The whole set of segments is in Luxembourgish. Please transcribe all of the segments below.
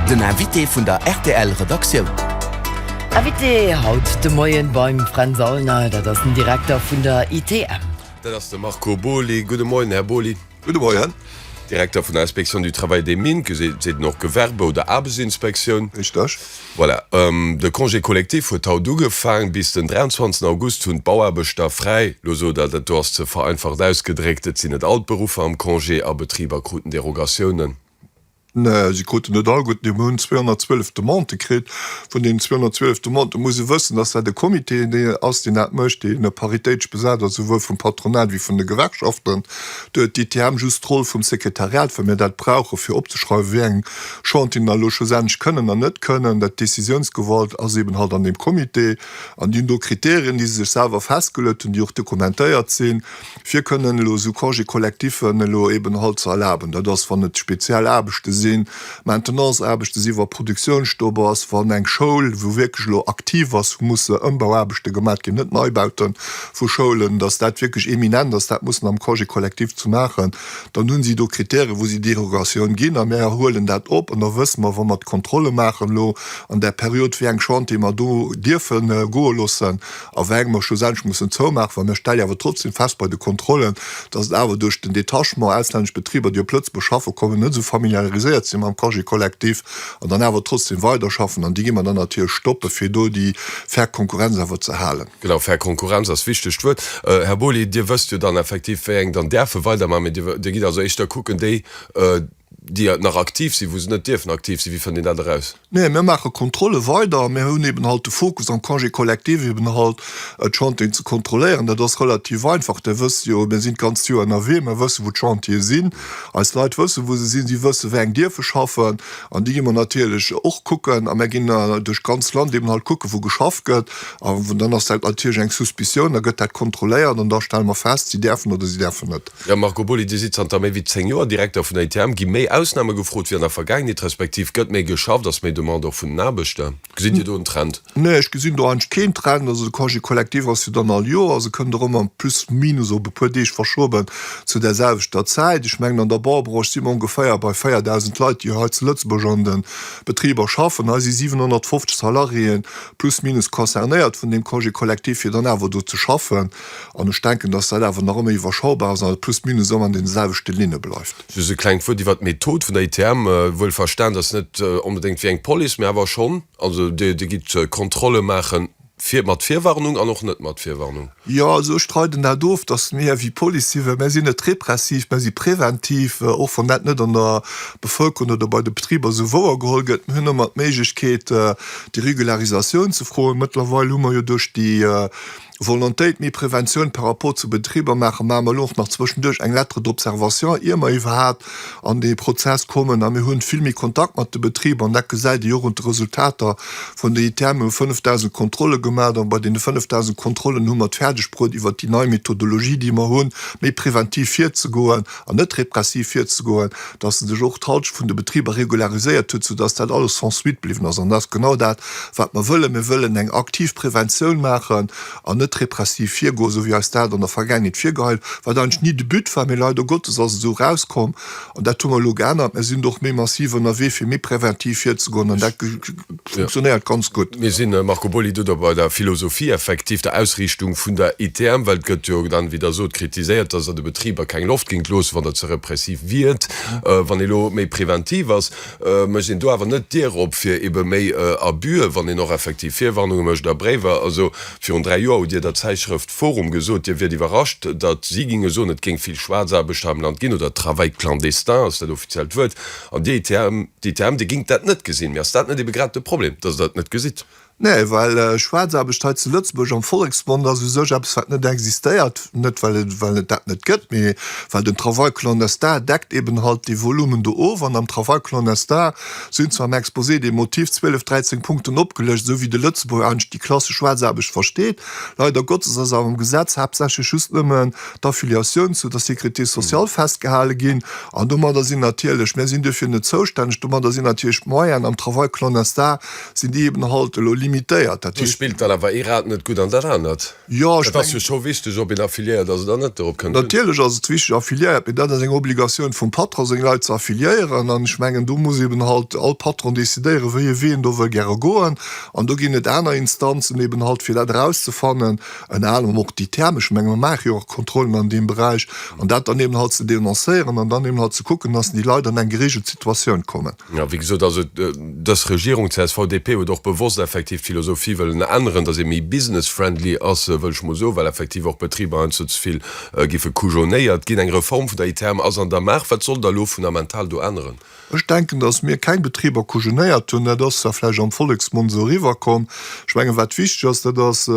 Den Invité vun der rtl Redaktioun. Invité haut de Moien beim Fränz Aulner, dat ass den Direkter vun der ITM. Dat ass de Marco Boly. Gudde Moien, Här Boly. Gudde Moien. Direkter vun der Inspection du Travail des Mines, ge seet een och Gewerbe oder Aarbechtsinspektioun. Richteg. Voilà. De Congé collectif huet haut ugefaang. Bis den 23 August hunn d'Bauaarbechter fräi. Lo sot Der, dat do ass ze vereinfacht ausgedréckt. Et sinn net all d'Beruffer am Congé a Betriber kruten Derogatiounen. Nä, si kruten net all gutt, mee mir hunn 212 Demandë kritt. Vun deenen 212 Demandë muss ee wëssen, dass dat e Comité ass, deen dat mécht, dee paritéitesch besat ass, souwuel vum Patronat wéi vun de Gewerkschaften. Do huet d'ITM just d'Roll vum Sekretariat, well mir dat brauchen, fir opzeschreiwen, wéi eng Chantieren da elo schlussendlech kënnen an net kënnen. Dat d'Décisiounsgewalt ass eeben halt an deem Comité. An déi hunn do Kriterien, déi se sech selwer festgeluet hunn, déi och dokumentéiert sinn. fir kënnen elo esou Congé collectif'en elo eben halt ze erlaben. Dat ass wann et speziell Aarbechte sinn, Maintenance-Aarbechte sinn, wa Produktiounsstopp ass, wann eng Schoul, wou wierklech elo aktiv ass, wou musse Ëmbauaarbechte gemat ginn, net Neibaute vu Schoulen, datt dat wierklech imminent ass, dat muss en am Congé collectif ze maachen, dann hunn si do Kritäre wou si Derogatioun ginn a mer huelen dat op. An da wësse mer, wa mer d'Kontrolle maachen elo an där Period, wéi eng Chantiere mer do dierfe goe loossen. a weng mer schlussendlech mussen zoumaachen, well mir stelle jo awer trotzdem fest bei de Kontrollen, dass et awer duerch den Detachement auslännesch Betriber, déi op Lëtzebuerg schaffen kommen, net esou familiariséiert sinn mam Congé collectif an dann awer trotzdem weiderschaffen. An déi gi mer dann natierlech stoppen, fir do déi fair Konkurrenz awer ze halen. Genau, fair Konkurrenz ass wichtegt Wuert. Här Boly, Dir wësst jo dann effektiv, wéi eng dann däerfe weidermachen, mä Dir gitt also éischter kucken, déi, déi nach aktiv sinn, wou se net dierfen aktiv sinn? Wéi fënnt een dat eraus? Nee, mir maache Kontrolle weider. Mir hunn eben halt de Fokus am Congé collectif eben halt, d'Chantieren ze kontrolléieren. Dat ass relativ einfach. Där wësst jo, mir sinn d'ganzt Joer ënnerwee. Mir wëssen, wou d'Chantiere sinn. Eis Leit wëssen, wou se sinn. Si wëssen, wéi eng dierfe schaffen. An déi gi mer natierlech och kucken. A mir ginn duerch d'ganzt Land eben halt kucken, wou geschafft gëtt. A dann ass dat natierlech eng Suspicioun. Da gëtt dat kontrolléiert an da stelle mer fest, si däerfen oder si däerfen net. D'Mme Marco Boly, Dir sidd zanter méi wéi 10 Joer Direkter vun der ITM. Gi méi Ausname gefrot wéi an der Vergaangenheet, respektiv gëtt méi geschafft? Ass méi Demande och vun den Aarbechter? Gesitt Dir do en Trend? Nee, ech gesinn do eigentlech keen Trend. Also de Congé collectif ass jo dann all Joer, also kënnt och ëmmer plus minus op e puer Deeg verschoben zu där selwechter Zäit. Ech mengen an der Baubranche si mer ongeféier bei 4.000 Leit, déi hei zu Lëtzebuerg an de Betriber schaffen. Hei si 750 Salariéen plus minus concernéiert vun deem Congé collectif, fir dann awer do ze schaffen. An ech denken, dass dat awer nach ëmmer iwwerschaubar ass an et plus minus ëmmer an deene selwechte Linne bleift. Just e klengt Wuert iwwert d'Method vun der ITM, wuel verstanen, dass net onbedéngt wéi eng Police, mä awer schonn. Also Dir gitt Kontrolle maache fir mat Virwarnung an och net mat Virwarnung. Jo, also ech streiden dat of, dass mir wéi Police si, well mir sinn net repressiv, mir si preventiv, och wann dat net an der Bevëlkerung oder bei de Betriber esou wouer geholl gëtt. Mir hunn ëmmer d'Méiglechkeet, déi Regularisatioun ze froen. Mëttlerweil hu mer jo duerch déi, Volontéit, méi Preventioun par rapport zu Betriber maachen, maache mer elo och nach zwëschenduerch eng Lettre d'observation, ier mer iwwerhaapt an dee Prozess kommen. A mir hunn vill méi Kontakt mat de Betriber an dat gesäit ee jo och un de Resultater vun der ITM. Mir hu 5.000 Kontrolle gemaach an bei deene 5.000 Kontrollen hu mer et fäerdegbruet iwwert déi nei Methodologie, déi mer hunn, méi preventiv virzegoen. an net repressiv virzegoen, dass se sech och d'Halschent vun de Betriber regulariséiert huet, soudass dat alles sans suite bliwwen ass. An dat ass genau dat, wat mer wëllen. Mir wëllen eng aktiv Preventioun maachen an net repressiv virgoen, esou wéi eis dat an der Vergaangenheet virgeheit, wat eigentlech ni de But war. Mee leider Gottes ass et esou erauskomm, an dat hu mer elo geännert. Mir sinn do och méi massiv ënnerwee, fir méi preventiv virzegoen an dat, funktionéiert ganz gutt. Mir sinn, Marco Boly, do da bei der Philosophie effektiv, der Ausriichtung vun der ITM, well et gëtt jo dann, wéi Der sot, kritiséiert, dass Der de Betriber keng Loft géingt loossen, wann Der ze repressiv wiert, wann ee lo méi preventiv ass. Mécht een do awer net d'Dier op fir ebe méi Abuse, wann een och effektiv Virwarnunge mécht a Bréiwer? Also, virun dräi Joer hutt Dir der Zäitschrëft forum gesot, Dir wiert iwwerrascht, datt si ginge soen, et géing vill Schwaarzaarbechter am Land ginn, oder Travail clandestin ass dat offiziellt Wuert, an d'ITM, D'ITM, Dir gingt dat net gesinn. Mee ass dat net ebe grad de Problem, dass Der et net gesitt? Nee, well Schwaarzaarbecht hei zu Lëtzebuerg am Volleksmond ass u sech eppes, wat net existéiert. Net well et, well et dat net gëtt, mee well den Travail clandestin deckt eben halt déi Volummen do of. An am Travail clandestin sinn zwar am Exposé des motifs zwielef, dräizéng Punkten opgelëscht, esou wéi de Lëtzebuerger eigentlech déi klassesch Schwaarzaarbecht versteet. Leider Gottes ass awer am Gesetz haaptsächlech just nëmmen d'Affiliatioun zu der Sécurité sociale festgehale ginn. An domadder sinn natierlech, mir sinn duerfir net zoustänneg, domadder sinn natierlech d'Moyenen am Travail clonestar, sinn déi eben halt elo limitéiert. Dat Do heescht. spillt dann awer ee Rad net gutt an dat anert. Jo, ech Et ass mengen. jo scho wichteg, ob een affiliéiert ass oder net, dorop kënnt et un. Natierlech ass et wichteg, affiliéiert, mee dat ass eng Obligatioun vum Patron, seng Leit ze affiliéieren. An ech mengen, do muss eben halt all Patron decidéieren, wéi e Wee en do wëll gäre goen. An do ginn et aner Instanzen eben halt, fir dat erauszefannen. Ënner anerem och déi thermesch. Ech menge mer maache jo och Kontrollen an deem Beräich. An dat dann eben halt ze denoncéieren an dann eben halt ze kucken, datt déi Leit an eng gereegelt Situatioun kommen. Jo, wéi gesot, also dës Regierung CSV-DP huet och bewosst effektiv d'Philosophie wëllen änneren, datt ee méi business-friendly ass, wëll ech mol soen, well effektiv och Betriber heiansdo ze vill giffe kujonéiert ginn. Eng Reform vun der ITM ass an der Maach. Wat soll da elo fundamental do änneren? Ech denken, dass mir keng Betriber kujenéiert hunn. Dat ass zwar vläicht am Volleksmond esou eriwwerkomm. Ech mengen, wat wichteg ass, dat ass,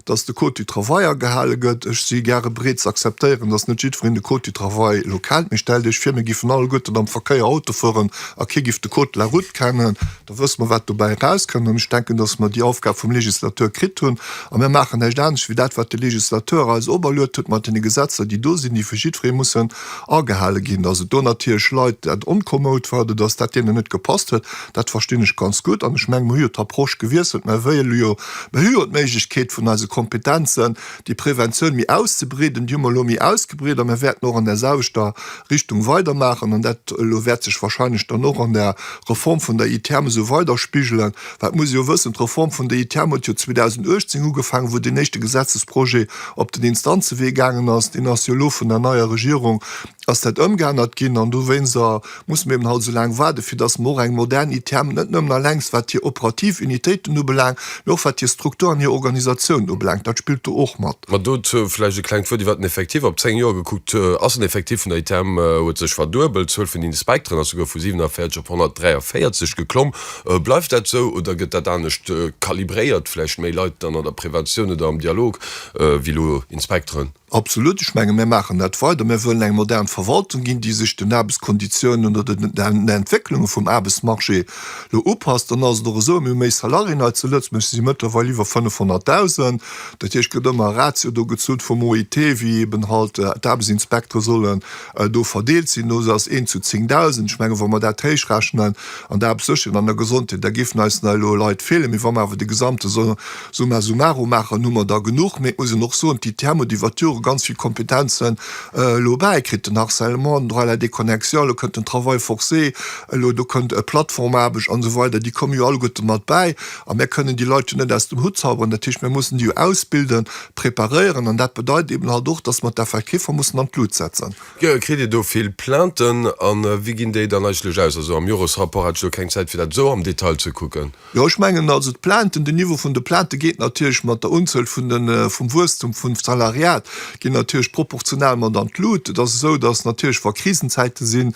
dass de Code du travail agehale gëtt. Ech si gare bereet ze akzeptéieren, dass net jiddwereen de Code du travail elo kennt. Mee stellt Iech vir, mir géifen alleguerten am Verkéier Auto fueren a kee géif de Code de la route kennen. Da wësse mer, wat dobäi erauskënnt. An ech denken, dass mer déi Aufgab vum Législateur kritt hunn. A mir maachen näischt anescht wéi dat, wat de Législateur eis operluet huet mat deene Gesetzer, déi do sinn, déi fir jiddweree mussen agehale ginn. Dass et do natierlech Leit, dat onkommod war oder dass dat deenen net gepasst huet, dat verstinn ech ganz gutt. An ech mengen, mer hu jo d'Approche gewiesselt. Mä wéi elo jo, mer hu jo d'Méiglechkeet vun eise Kompetenzen, déi Preventioun méi auszebreeden. Déi hu mer elo méi ausgebreet a mir wäerten och an där selwechter Richtung weidermaachen. An dat elo wäert sech wahrscheinlech dann och an der Reform vun der ITEM esou weiderspigelen. Well et muss ee jo wëssen, D'Reform vun der ITEM huet jo 2018 ugefaangen, wou deen éischte Gesetzesprojet op den Instanzewee gaangen ass. Deen ass jo elo vun der neier Regierung ass dat ëmgeännert ginn an dowéinst a musse mir eben halt esou laang waarden, fir dass mer och eng modern ITM, net nëmmen alleng wat hir operativ Unitéiten ubelaangt, mee och wat hir Struktur an hir Organisatioun ubelaangt. Dat spillt do och mat. Ma dozou vläicht e klengt Wuert iwwert den Effectif. Op zéng Joer gekuckt ass den Effectif vun der ITM huet sech verduebelt. D'Zuel vun den Inspekteren ass souguer vu 47 op 143 geklomm. Bleift dat esou oder gëtt dat anescht kalibréiert, vläicht méi Leit dann an der Preventioun oder am Dialog wéi elo Inspekteren? Absolut, ech menge mir maachen dat weider. Mir wëllen eng modern Verwaltung ginn, déi sech den Aarbechtskonditiounen oder den Entwécklunge vum Aarbechtsmarché elo upasst. Dann ass et och esou, mir hu méi Salariéen hei zu Lëtzebuerg, se si mëttlerweil iwwer 500.000. Dat heescht, et gëtt ëmmer e Ratio do gezunn vum OIT, wéi eeben halt d'Aarbechtsinspektere sollen do verdeelt sinn, no se ass een zu 10.000, ech menge wa mer dat héich rechnen an der Aarbechtssécherheet an der Gesondheet, da géifen eis nei elo Leit feelen. Mee wa mer awer de gesamte Summa summarum maachen, hu mer der genuch. Mee et muss een och soen, d'ITM huet iwwert d'Jore ganz vill Kompetenzen elo bäikritt, den Harcèlement, den Droit à la déconnexion, elo kënnt den Travail forcé, elo do kënnt Plattformaarbecht an esou weider, déi komme jo alleguerte mat bäi a mir kënnen déi Leit jo net aus dem Hutt zauberen. Dat heescht, mir mussen déi jo ausbilden. preparéieren an dat bedeit eben halt och, dass mer d'Effektiffer mussen an d'Lut setzen. Kritt Dir do vill Plainten a wéi ginn déi dann eigentlech aus? Also am Joresrapport hat ech elo keng Zäit fir dat esou am Detail ze kucken. Jo, ech mengen also d'Plainten, den Niveau vun de Plainte geet natierlech mat der Unzuel vun de, vum Wuesstum vum Salariat geet natierlech proportional mat an d'Lut. Et ass esou, dass natierlech wa Krisenzäite sinn,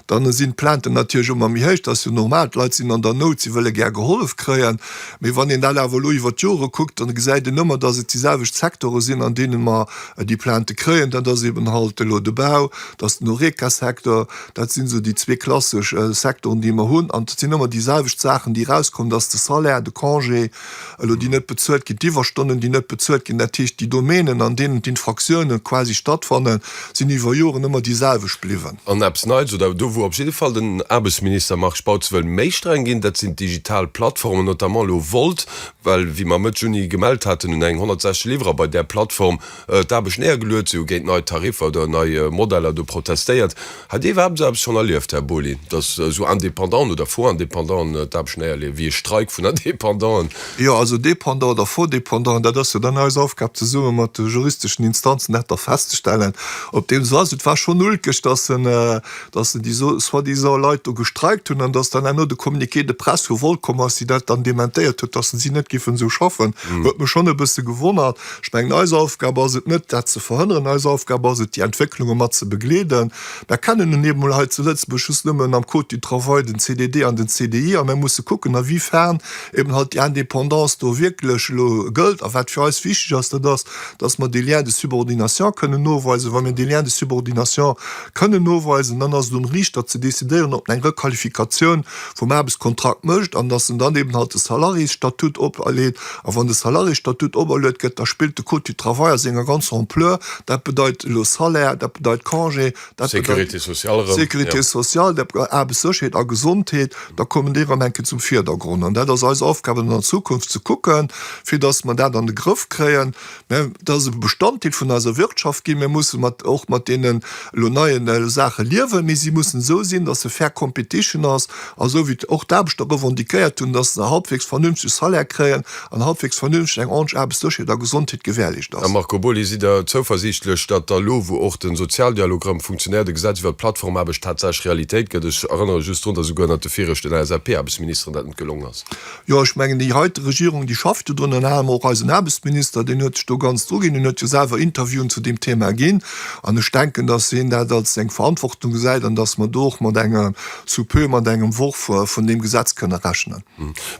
dann sinn d'Plainten natierlech ëmmer méi héich, dat ass jo normal, d'Leit sinn an der Nout, si wëlle gär gehollef kréien. Mee wann een dat awer elo iwwer d'Jore kuckt, dann gesäit een ëmmer, dass et déi selwecht Sektore sinn, an deene mer déi Plaintë kréien. Dat ass eben halt elo de Bau, dat ass den Horeca-Secteur. Dat sinn esou déi zwee klassesch Sektoren, déi mer hunn. An et sinn ëmmer déi selwecht Saachen, déi erauskommen, dass de Salaire, de Congé elo, déi net bezuelt ginn, d'Iwwerstonnen, déi net bezuelt ginn, dat heescht déi Domänen, an deenen d'Infractioune quasi stattfannen, sinn iwwer Joren ëmmer déi selwecht bliwwen. An eppes Neits, oder do wou op jidde Fall den Aarbechtsminister Marc Spautz wëll méi streng ginn, dat sinn d'digital Plattformen, notamment elo Wolt, well wéi mer Mëtt Juni gemellt haten, hunn eng 160 Liwwerer bei där Plattform d'Aarbecht néiergeluet. Si hu géint nei Tariffer oder nei Modeller do protestéiert. Hat Dir iwwerhaapt esou eppes schonn erlieft, Här Boly, datt esou Indépendanten oder Faux-Indépendanten d'Aarbecht néierleeën, wéi e Streik vun Indépendanten? Jo, also dépendant oder faux dépendant, dat ass jo dann eis Aufgab, zesumme mat de juristeschen Instanzen dat da festzestellen. Op deem Sens, et war schonn ulkeg, dass se, dass se déi soi-disant Leit do gestreikt hunn an dass dann herno de Communiqué de presse vu Volcom ass, déi dat dann dementéiert huet, dass se si net géifen esou schaffen, huet mech schonn e bësse gewonnert. Ech mengen, eis Aufgab ass et net, dat ze verhënneren. Eis Aufgab ass et, déi Entwécklunge mat ze begleeden. Mer kennen nun eemol hei zu Lëtzebuerg just nëmmen am Code du travail den CDD an den CDI a mer musse kucken, awiefern eben halt déi Indépendance do wierklech elo gëllt. A wat fir eis wichteg ass, dat ass, dass mer dee Lien de subordination kënnen noweisen. Wa mir dee Lien de subordination kënnen noweisen, dann ass et um Riichter ze décidéieren, ob en eng Requalifikatioun vum Aarbechtskontrakt mécht an dass en dann eben halt de Salariésstatut opleet A wann de Salariésstatut operluet gëtt, da spillt de Code du travail a senger ganzer Ampleur. Dat bedeit elo Salaire, dat bedeit Congé, dat bedeit. Sécurité sociale erëm. Sécurité sociale, dat bedeit Aarbechtssécherheet a Gesondheet. Da kommen déi erëm eng Kéier zum Virdergrond. An dat ass eis Aufgabe dann an Zukunft ze kucken, fir datt mer dat an de Grëff kréien. Dat ass e Bestanddeel vun eiser Wirtschaft ginn. Mir mussen och mat deenen elo neie Saache liewen, mee si mussen esou sinn, datt se fair competition ass a esou wéi och d'Aarbechter revendiquéiert hunn, datt se e halbwegs vernünftege Salaire kréien an halbwegs vernünfteg eng ordneg Aarbechtssécherheet a Gesondheet gewährleescht ass. Här Marco Boly, sidd Der zouversiichtlech, datt da elo, wou och de Sozialdialog erëm funktionéiert, e Gesetz iwwert d'Plattformaarbecht tatsächlech Realitéit gëtt? Ech erënnere just drun, datt esouguer ënnert de viregten LSAP-Aarbechtsministeren dat net gelongen ass. Jo, ech mengen, déi heite Regierung, déi schafft jo drun, an ënner anerem och eisen Aarbechtsminister, deen huet sech do ganz druginn, deen huet jo selwer Interviewen zu deem Thema ginn. An ech denken, dass hien dat als eng Verantwortung gesäit an dass mer do och mat enger, sous peu, mat engem Worf vun deem Gesetz kënne rechnen.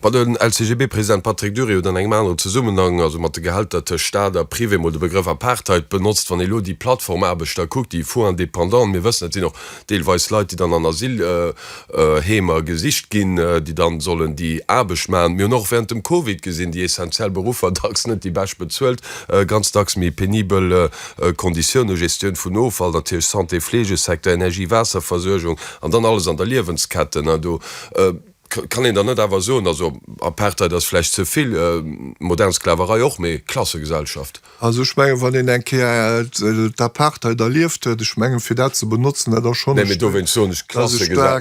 Wann den LCGB-President Patrick Durieux an engem aneren Zesummenhang, also mat de Gehälter tëscht Stat a Privé, mol de Begrëff Apartheid benotzt, wann ee elo déi Plattformaarbechter kuckt, déi Faux-indépendants, mir wëssen, et sinn och deelweis Leit, déi dann an Asylheemer gesicht ginn, déi dann sollen déi Aarbecht maachen. Mir hunn och während dem Covid gesinn, déi essentiell Beruffer, dacks net déi bescht bezuelt, ganz dacks méi penibel Konditiounen, Gestioun vun Offall natierlech, Santé, Fleegesecteur, Energie, Waasserversuergung an dann alles an der Liewensketten, hein, do. Kann een dann net awer soen, also Apartheid ass vläicht ze vill, modern Sklaverei och, mee Klassegesellschaft? Also ech mengen, wann een eng Kéier d'Apartheid erlieft huet, ech mengen, fir dat ze benotzen, dat ass schonn e Stéck. Dowéinst soen ech,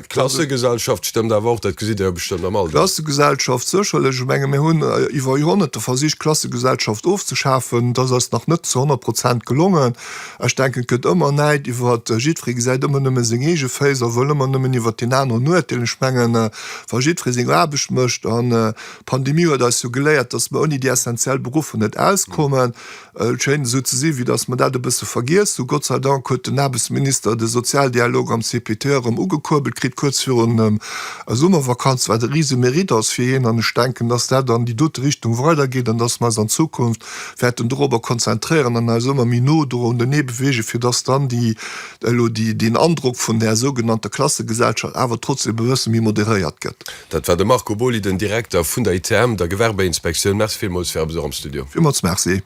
Klassegesellschaft stëmmt awer och, dat gesitt Der jo bestëmmt am Alldag. Klassegesellschaft, sécherlech. Ech menge mir hunn iwwer Joerhonnerte versicht, d'Klassegesellschaft ofzeschafen. Dat ass nach net zu honnert Prozent gelongen. Ech denken, et gëtt ëmmer Näid iwwer, jiddweree gesäit ëmmer nëmme seng eege Féiss a wëll ëmmer nëmmen iwwer deen aneren urteelen. Ech mengen, wa jiddweree seng Aarbecht mécht, an d'Pandemie huet eis jo geléiert, datt mer ouni déi essenziell Beruffer net auskommen, et schéint esou ze sinn, wéi datt mer dat e bësse vergiess hunn. Gott sei Dank huet den Aarbechtsminister de Sozialdialog am CPT erëm ugekuerbelt kritt, kuerz virun der Summervakanz, wat e Risemérite ass fir hien. An ech denken, datt dat an déi dote Richtung weidergeet an datt mer eis an Zukunft wäerten dorobber konzentréieren an eis ëmmer méi no dorunner beweegen, fir dass dann déi elo déi deen Androck vun där sougenannter Klassegesellschaft awer trotzdem e bësse méi moderéiert gëtt. Dat war de Marco Boly, den Direkter vun der ITM, der Gewerbeinspektioun. Merci villmools fir eppes och am Studio. Villmools Merci.